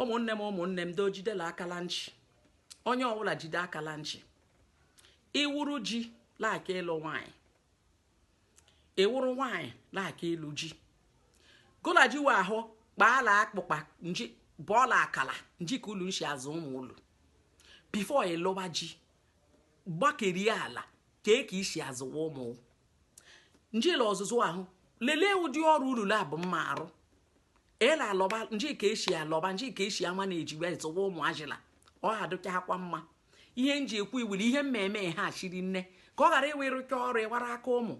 ụmụnne m ụmụnne m doo jidela aka la nchị onye ọbụla jide aka la nchị ị wụrụ ji laaka ịlụ nwanyị ị wụrụ nwanyị laaka ịlụ ji gụ la ji wa ahụ kpaala akpụkpa nji bọọla akala nji ka ulu nshi azụ ụmụ ulu before ị lụwa ji gbakerie ala ka e ka isi azụwa ụmụ nji la ọzụzụ ahụ lelee ụdị ọrụ ulu labụ mma arụ ela alọba nji ka esi alọba nji ka esi ama na ejiwe zụwa ụmụazị la ọ ha adịchakwa mma ihe nji ekwu iwuli ihe mmemme ha shiri nne ka ọ ghara ịwụ ị rụcha ọrụ ịwara aka ụmụ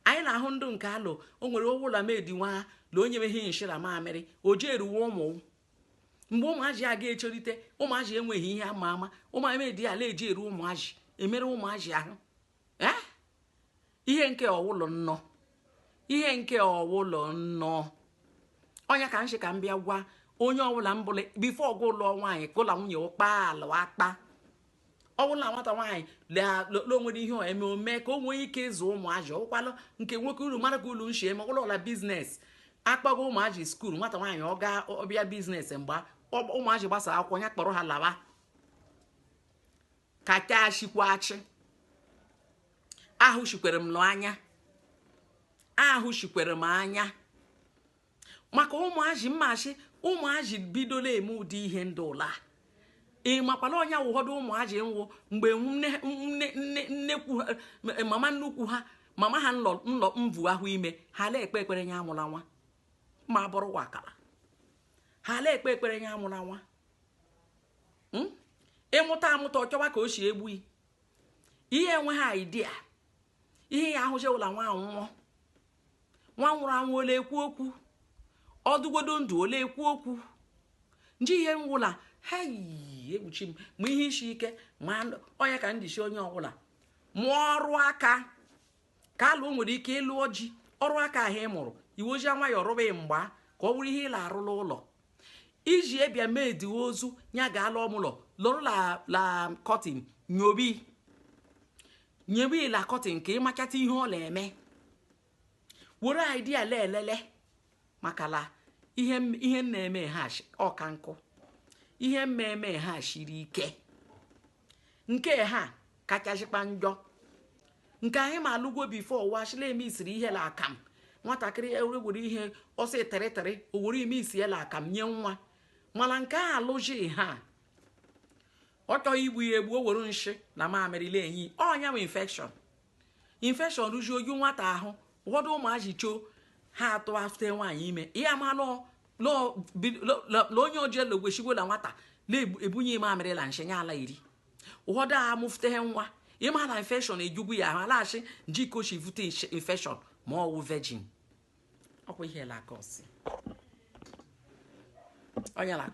anyị na-ahụ ndụ nke alụ o nwere ọwụla maid nwa la onye meghị nshị la mamịrị o ji eruwe ụmụ mgbe ụmụazị a ga-echolite ụmụazị enweghị ihe ama ama ụmụ maid ala eji eru ụmụazị emere ụmụazị ahụ eh? ihe nke ọwụlọ nnọ ihe nke ọwụlọ nnọ ọ ya ka m shi ka m bịa gwa onye ọbụla m bụla before gụ alụọ nwaanyị gụ la nwunye ụ kpaala akpa ọbụla nwata nwaanyị lele o nwere ihe eme ome ka o nwee ike ịzụ ụmụazị ọkwalụ nke nwoke ulu mara ka ulu nshi eme ụlọ ọla business akpọgo ụmụazị school nwata nwaanyị ọ gaa ọ bịa business mgbe ụmụazị gbasa akwụkwọ ya kpọrọ ha lawa ka ka chikwa achị ahụshikwere m n'anya ahụshikwere m anya maka ụmụazị mmachi ụmụazị bidola eme ụdị ihe ndị ụla ị makwala onye ụfọdụ ụmụazị nwụ mgbe nnekwu mama nnukwu ha mama ha nlọ nlọ mvu ahụ ime ha la-ekpe ekpere nya amụla nwa ma bụrụ wakala ha la-ekpe ekpere nya amụla nwa hmm? ịmụta amụta ọ chọwa ka o si egbu ihe enweghị idea ihe ya ahụzi ụla nwa nwụọ nwa nwụrụ anwụ ọ la-ekwu okwu ọ dịgodi ndụ ọ la-ekwu okwu nji ihe ngwụla ha yi egbuchi m ma ihe isi ike ma ọ ya ka m ji si onye ọbụla mụọ ọrụ aka ka alụ o nwere ike ịlụ ọji ọrụ aka ahụ ị mụrụ i wezie nwayọọ rụba ị mgba ka ọ bụrụ ihe ị la-arụ la ụlọ iji ebia maid ozu ya ga-ala ọmụlọ lọrọ la la curtain nyobi nyowe la curtain ka ị machata ihe ọ na-eme were idea la elele maka la ihe m- ihe m na-eme ha shi- ọka nkụ ihe mmemme ha shiri ike nke ha kachachikwa njọ nke anyị ma alụgwo before washila eme isiri ihe la akamu nwatakịrị ewere ihe ọsọ eteretere o were ime isi ela akamu nye nwa mana nke a alụji ha ọ chọghị igbu ya egbu o were nshị na mamịrị na-enye ọ ya nwee infection infection rụjuo oju nwata ahụ ụfọdụ ụmụazị choo ha atụ afte nwaanyị ime ihe ama na onye oji elu gwechigwola nwata na-ebunye mamịrị la nshị ya ala iri ụfọdụ a mụfute nwa ị ma na infection ejugwu ya ahụ alaghachi njikochi vute infection ma ọ wụ virgin ọkwa ihe la-akọsi onye la-akọ